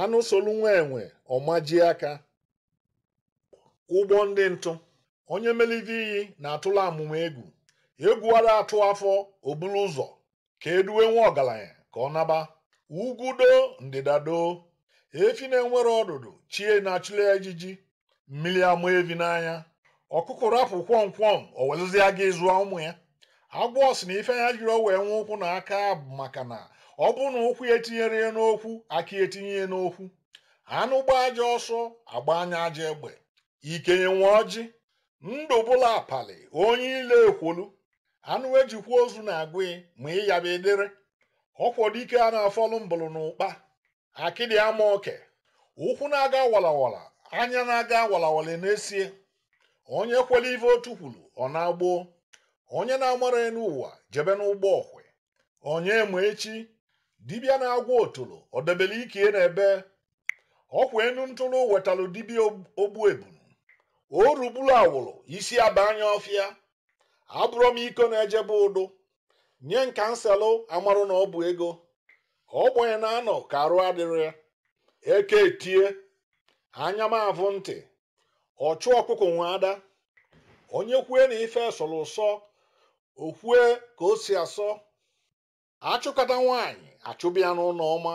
anụ solu nwa enwe ọ majie aka ụgbọ ndị ntụ onye melite iyi na-atụla amụma egwu egwu ara atụ afọ o bulu ụzọ ka eduwe nwa ọgaranya ka ọ naba ugwu doo ndịda doo efi na-enwerọ ọdụdụ chi ya na-achụlụ ya ijiji mmiri ama evi n'anya ọkụkọ rapụ kwọmkwọm o welụzịa gịnị zụọ ụmụ ya agwọ sị na ife ya jirọ wee nwee ụkwụ na aka bụ maka na ọ bụrụ na ụkwụ ya etinyerọ ya n'okwu aka ya etinye ya n'okwu anụ gbaa ajọ ọsọ a gbanye ya ajọ egbe ikenye nwe ọjị ndụ bụla apali onye ile ekwolu anụ ejikwa ozu na-agụ ya ma ịyaba edere ọkwọdike a na-afọlụ mbụlụ na ụkpa akịdị ama oke ụkwụ na-aga walawala anya na-aga walawala n'esie onye kwere ife otu kwuru ọ naa gboo onye na-amarọ enu ụwa jebe n'ụgbọ ọkwe onye ma echi dibịa na-agwọ otolo o debere ike ya n'ebee ọkwa enu ntụrụ wetalụ dibịa ogbu ebunu o ruburu awụrụ isi aba anya ọfịa abụrọ m iko na-ejebe ụdụ nye nkanselụ amarụ na ọ bụ ego ogbenye na-anọ ka arụ adịrọ ya eke etie anya m avụ ntị ọchụ ọkụkọ nwe ada onye kwue na ife sọrọ ụsọ o kwue ka o si asọ achụkata nwaanyị achụba ya n'ụnọ ọma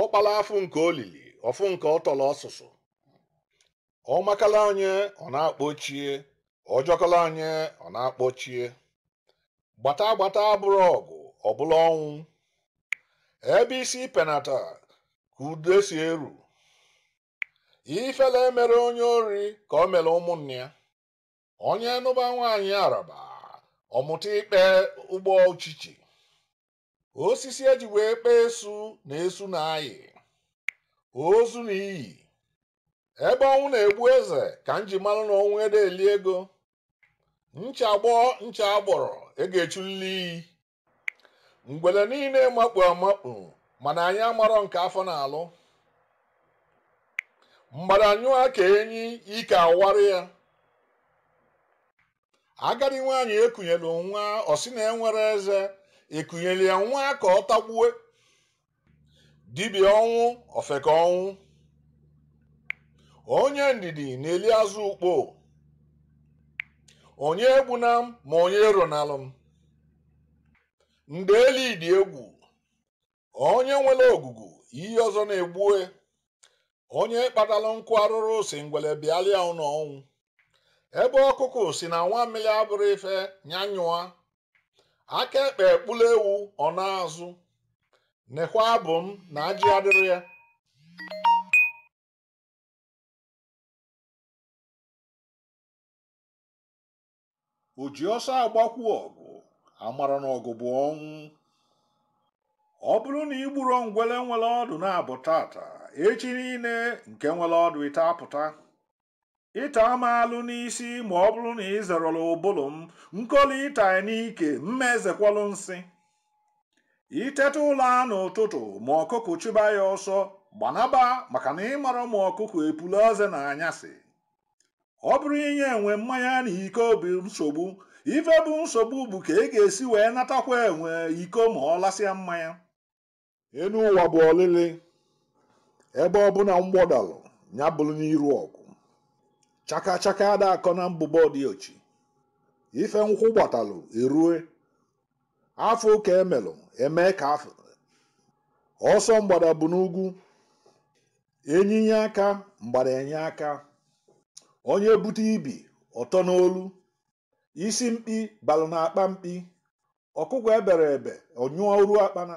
ọkpala afụ nke o lili ọ fụ nke ọ tọrọ ọsụsụ ọ makala onye ọ na-akpọ chi ya ọ jọkala onye ọ na-akpọ chi ya gbata gbata abụrọ ọgụ ọ bụlụ ọnwụ ebe isi penata ka udo si eru ifele emerọ onye ori ka o mere ụmụnne ya onye nụba nwaanyị araba ọ mụta ikpe ụgbọ uchichi osisi eji wee kpee esu na esu na-ayị ozu na iyi ebe ọnwụ na-egbu eze ka m ji malụ na ọnwụ ede eli ego ncha gbọọ ncha agbọrọ a ga-echulili iyi ngwele niile makpu amakpu mana anyị amarọ nke afọ na-alụ mgbada nyụọ ka enyi ike awara ya agadi nwaanyị ekunyelu nwa ọ sị na enwerọ eze ekunyelu ya nwa ka ọ tagbue dibịa ọnwụ ofeke ọnwụ onye ndidi na-eli azụ ukpo onye egbuna m ma onye eronalụ m ndeli dị egwu onye nwere ogugu ihe ọzọ na-egbue onye kpatalụ nkụ arụrụ si ngwele bịalịa ụlọ ọnwụ ebe ọkụkụ si na nwamịlị abụrọ ife nya nyụa aka ekpe ekpula ewu ọ na-azụ nekwa abụ m na ajị adịrọ ya o ji ọsọ agbakwu ọgụ amarọ na ọgụ bụ ọnwụ ọ bụrụ na i gburọ ngwele nwere ọdụ naabọ taata echi niile nke nwere ọdụ ịtọ apụta ịta m alụ n'isi ma ọ bụrụ na ị zerọla ụbụlụ m nkoli ịta ị n'ike m ma ezekwalụ nsị iteta ụla n'ụtụtụ ma ọkụkụ chụba ya ọsọ gbanaba maka na ị marọ ma ọkụkụ epula eze na anyasị ọ bụrọ inye enwe mmanya na iko bụ nsogbu ife bụ nsogbu bụ ka ị ga-esi wee natakwa enwe iko ma ọ lasịa mmanya enu ụwa bụ ọlịlị ebe ọbụna mgbọ dalụ nya bụrụ n'iru ọgụ chaka chaka ada akọ na mbụbọ di ochi ife nkwụ gbatalụ erue afọ ka emelụ eme ka afọ ọsọ mgbada bụ n'ugwu ene nye aka mgbada enye aka onye bute ibi ọtọ n'olu isi mkpi balụ na akpa mkpi ọkụkụ ebere ebe ọ nyụrụ akpana